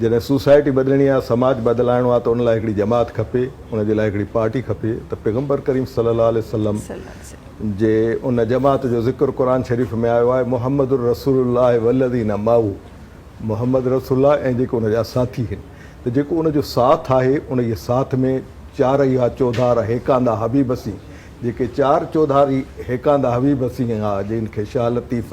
جڏهن سوسائٽي بدلڻي آ، سماج بدلائڻو آ ته ان لاء هڪڙي جماعت کپي، ان جي لاء هڪڙي پارٽي کپي ته پيغمبر ڪريم صلي الله عليه وسلم جي ان جماعت جو ذڪر قرآن شريف ۾ آيو آهي محمد رسول الله والذين معه محمد رسول الله ۽ جيڪي ان جا ساٿي هن ته جيڪو ان جو ساٿ آهي انهيء ساٿ ۾ چار اها چوڌار هيڪاندا حبيب سين جيڪي چار چوڌاري هيڪاندا حبيب سين آ جن کي شاهه لطيف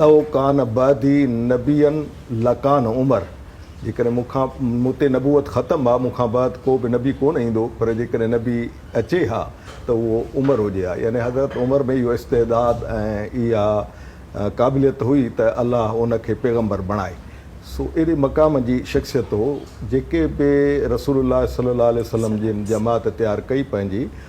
لو ڪان بعدي نبيً لڪان عمر، جيڪڏهن مون کان، مون تي، نبوت ختم ها، مون کان بعد ڪو به نبي ڪونه ايندو، پر جيڪڏهن نبي اچي ها ته اهو عمر هجي ها. يعني حضرت عمر ۾ اهو استعداد ۽ اها قابليت هئي ته الله ان کي پيغمبر بڻائي. سو اهڙي مقام جي شخصيت هو، جيڪي به رسول الله صلّي اللّٰه عليه وسلّم جن جماعت تيار ڪئي پنهنجي،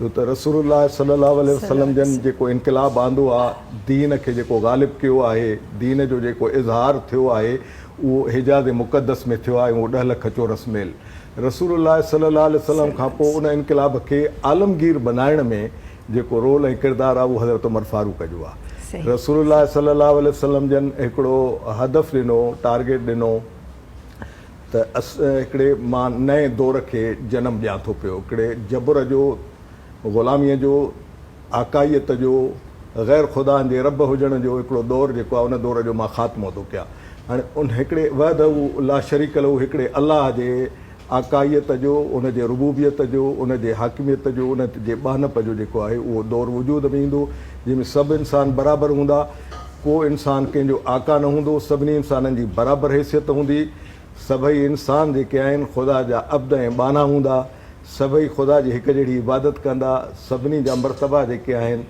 جو ته رسول الله صلي الله عليه وسلم جن جيڪو انقلاب آندو آ، دين کي جيڪو غالب ڪيو آهي، دين جو جيڪو اظهار ٿيو آهي، اهو حجاز مقدس ۾ ٿيو آهي ۽ اهو ڏهه لک چورس ميل رسول الله صلي الله عليه وسلم کان پوء ان انقلاب کي عالمگير بنائڻ ۾ جيڪو رول ۽ ڪردار آ اهو حضرت عمر فاروق جو آ. رسول الله صلي الله عليه وسلم جن هڪڙو هدف ڏنو، ٽارگيٽ ڏنو. ته اسين هڪڙي مان نئين دور کي جنم ڏيان ٿو پيو، هڪڙي جبر جو، غلاميء جو، آقائيت جو، غير خدائن جي رب هجڻ جو هڪڙو دور جيڪو آهي ان دور جو مان خاتمو ٿو ڪيان. هاڻي ان هڪڙي وحده لا شريڪ له هڪڙي الله جي آقائيت جو، ان جي ربوبيت جو، ان جي حاڪميت جو، ان جي ٻانهپ جو جيڪو آهي اهو دور وجود ۾ ايندو جنهن ۾ سڀ انسان برابر هوندا. ڪو انسان ڪنهن جو آقا نه هوندو، سڀني انسانن جي برابر حيثيت هوندي، سڀئي انسان جيڪي آهن خدا جا عبد ۽ ٻانها هوندا، سڀئي خدا جي هڪ جهڙي عبادت ڪندا، سڀني جا مرتبا جيڪي آهن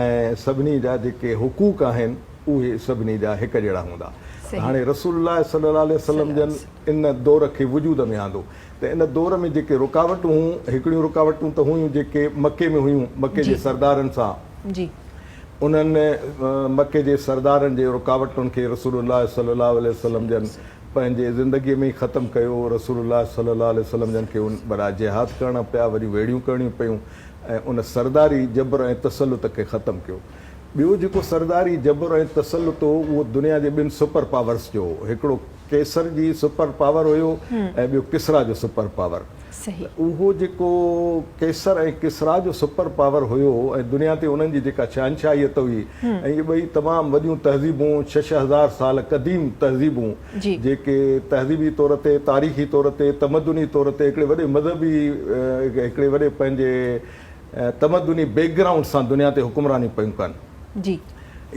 ۽ سڀني جا جيڪي حقوق آهن اهي سڀني جا هڪ جهڙا هوندا ته صحيح. هاڻي رسول الله صلي الله عليه وسلم صلي جن وسلم. ان دور کي وجود ۾ آندو ته ان دور ۾ جيڪي رڪاوٽون هون هڪڙيون رڪاوٽون ته هيون جيڪي مڪي ۾ هيون مڪي جي جي سردارن سان جي. انهن مڪي جي سردارن جي رڪاوٽن کي رسول الله صلي الله عليه وسلم جن پنهنجي زندگي ۾ ئي ختم ڪيو. رسول الله صلي الله عليه وسلم جن کي ان بران جهاد ڪرڻا پيا، وڏيون ويڙهيون ڪرڻيون پيون ۽ ان سرداري جبر ۽ تسلط کي ختم ڪيو. ٻيو جيڪو سرداري جبر ۽ تسلط هو اهو دنيا جي ٻن سپر پاورز جو هو. هڪڙو قيصر جي سپر پاور هيو ۽ ٻيو ڪسريٰ جو سپر پاور. صحيح. ته اهو جيڪو قيصر ۽ ڪسريٰ جو سپر پاور هيو ۽ دنيا تي انهن جي جيڪا شهنشاهيت هئي ۽ اهي ٻئي تمام وڏيون تهذيبون ڇهه ڇهه هزار سال قديم تهذيبون جي. جيڪي تهذيبي طور تي تاريخي طور تي تمدني طور تي هڪڙي وڏي مذهبي هڪڙي وڏي پنهنجي تمدني بيڪ گرائونڊ سان دنيا تي حڪمراني پيون ڪن جي.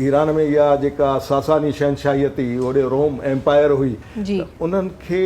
ايران ۾ اها جيڪا ساساني شهنشاهيت هئي اوڏي روم ايمپائر هئي جي. ته انهن کي.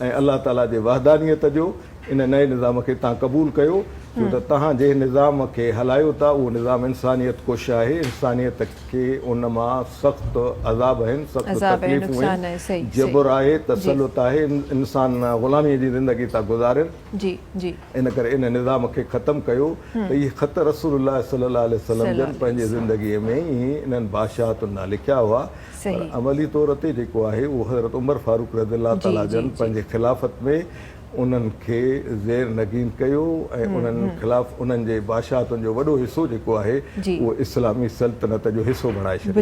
۽ الله تعاليٰ جي وحدانيت جو ان نئين نظام کي تهان قبول ڪيو ڇو ته تهان جنهن نظام کي هلايو ٿا اهو نظام انسانيت ڪش آهي انسانيت کي ان مان سخت عذاب آهن سخت تڪليفون آهن جبر آهي تسلط آهي انسان غلامي جي زندگي ٿا گذارين ان ڪري ان نظام کي ختم ڪيو ته اهي خط رسول الله صلي الله عليه وسلم جن پنهنجي زندگي ۾ ئي انهن بادشاهتن ڏانهن لکيا هئا پر عملي طور تي جيڪو آهي اهو حضرت عمر فاروق رضي الله تعالٰي جن پنهنجي خلافت ۾ انهن کي زير نگين ڪيو ۽ انهن خلاف انهن جي بادشاهتن جو وڏو حصو جيڪو آهي اهو اسلامي سلطنت جو حصو بڻائي ڇڏيو.